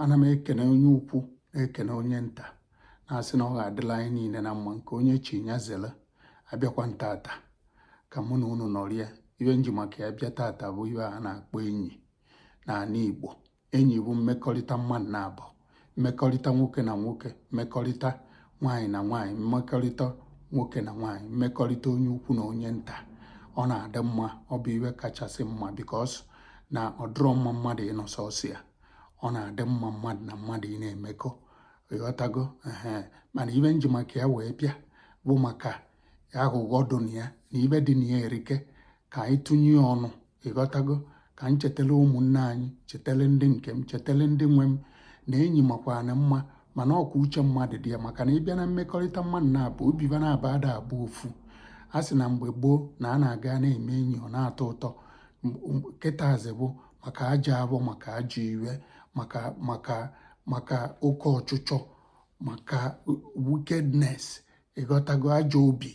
ana m ekene onye ukwu na-ekene onye nta na-asị na ọ ga-adịla anyị niine na mma nke onye chi ya zere abịakwa m tata ka mụ na unu nọrịa ive m ji maka ya bịa tata bụ ive a na-akpọ enyi n'anị Igbo enyi bụ mmekọrịta mmadụ naabọ mmekọrịta nwoke na nwoke mmekọrịta nwaanyị na nwaanyị mmekọrịta nwoke na nwaanyị mmekọrịta onye ukwu na onye nta ọ na-adị mma ọ bụ ive kachasị mma because na ọ dịrọ mma mmadụ ịnọ sọsọ ya ọ na-adị mma mmadụ na mmadụ ị na-emekọ ị ghọtago ee mana ive m ji maka ya wee bịa bụ maka ya aghụghọ dị na ya na ive dị na ya erike ka anyị tụnye ọnụ ị ghọtago ka m chetele ụmụnne anyị chetele ndị nke m chetele ndị nwe m na enyi makwana mma mana ọ kwa uche mmadụ dị ya maka na ị bịa na mmekọrịta mmadụ naabọ obi va naabọ ada abụ ofu a sị na mgbe gboo na a na-aga na-eme enyi ọ na-atọ ụtọ kịtazi bụ maka ajọ obi maka ajọ ive maka maka maka oke ọchụchọ maka wickedness ị ghọtago ajọ obi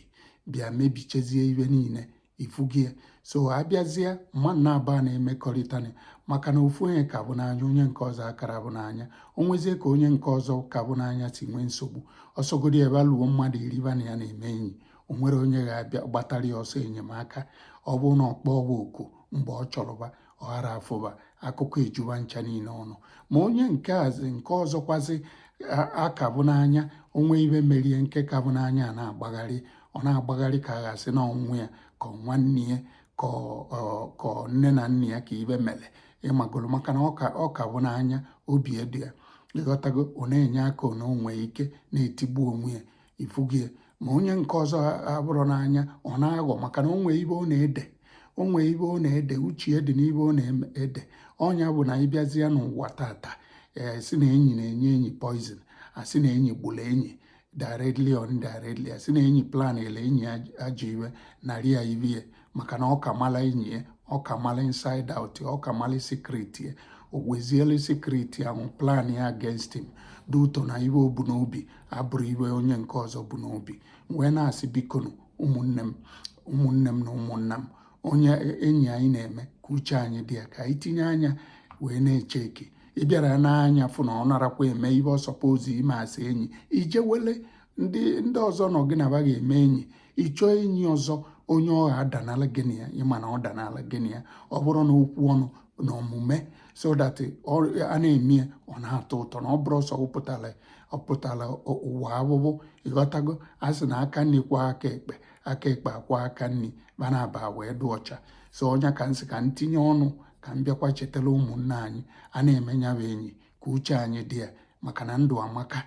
bịa mebichezie ive niine ifugie so a bịazie mmadụ naabọ na-emekọrịtani maka na ofu onye ka vụ n'anya onye nke ọzọ akarọ avụ n'anya o nwezie ka onye nke ọzọ ka vụ n'anya si nwee nsogbu ọ sọgodi ive luo mmadụ iri va na ya na-eme enyi o nwerọ onye ga-abịa gbatara ya ọsọ enyemaka ọ bụrụ na ọ kpọọ va oku mgbe ọ chọrọ va ọ ghara afụ va akụkọ eju va ncha niine ọnụ ma onye nke azi nke ọzọkwazi a ka vụ n'anya o nwee ive merie nke ka vụ n'anya a na-agbagharị ọ na-agbagharị ka a ga-asị na ọ nwa ya ka nwanne ya ka nne na nna ya ka ive mere ị magolo maka na ọ ka vụ n'anya obi edu ya ị ghọtago ọ na-enye aka ọ na o nwee ike na-etigbu onwe ya ifugie ma onye nke ọzọ avụrọ n'anya ọ na-aghọ maka na o nwe ive ọ na-ede o nwe ive ọ na-ede uche ya dị n'ive ọ na-ede ọ nya bụ na ị bịazie n'ụwa tata ee eh, a sị na enyi na-enye enyi poison a sị na enyi gburu enyi directly or indirectly a sị na enyi planele enyi ajọ ive narị ya ive maka na ọ ka mala enyi ya ọ ka mala inside out ọ ka mala secret ya o wezielu secret ahụ plan ya against him due to na ive o bu n'obi abụrọ ive onye nke ọzọ bu n'obi wee na-asị bikonu ụmụnne m ụmụnne m na ụmụnna m onye enyi anyị na-eme ka uche anyị dị ya ka anyị tinye anya wee na-echeck ị bịara nee anya fụ na ọ narọkwa eme ive ọ suppose ime as enyi i je wele ndị ndị ọzọ ngị na va ga-eme enyi ị chọọ enyi ọzọ onye ọ ga-adanala gị na ya ị ma na ọ danala gị na ya ọ bụrụ na okwu ọnụ na omume so that a na-eme ya ọ na-atọ ụtọ na ọ bụrọ ọsọ ọ pụtara ụwa abụbụ ị ghọtago a sị na aka nri kwọọ aka ekpe aka ekpe akwọọ aka nri ba naabọ wee dị ọcha so ọ nya ka m sị ka m tinye ọnụ ka m bịakwa chetara ụmụnne anyị a na-eme ya bụ enyi ka uche anyị dị ya maka na ndụ amaka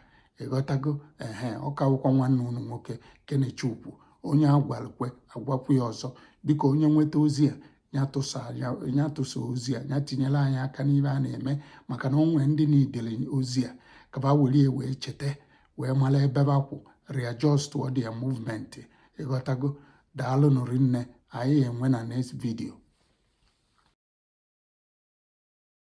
ị ghọtago ehe ọ ka wụkwa nwanne unu nwoke kenechukwu onye a gwalụ kwe a gwakwu ya ọzọ biko onye nweta ozi a ya tụsa ozi a ya tinyere anyị aka n'ibe a na-eme maka na o nwe ndị needịrị ozi a ka ba were wee cheta wee mara ebe ba kwụ readjust their movement ị ghọtago daalụ nụ rinne anyị enwe na next video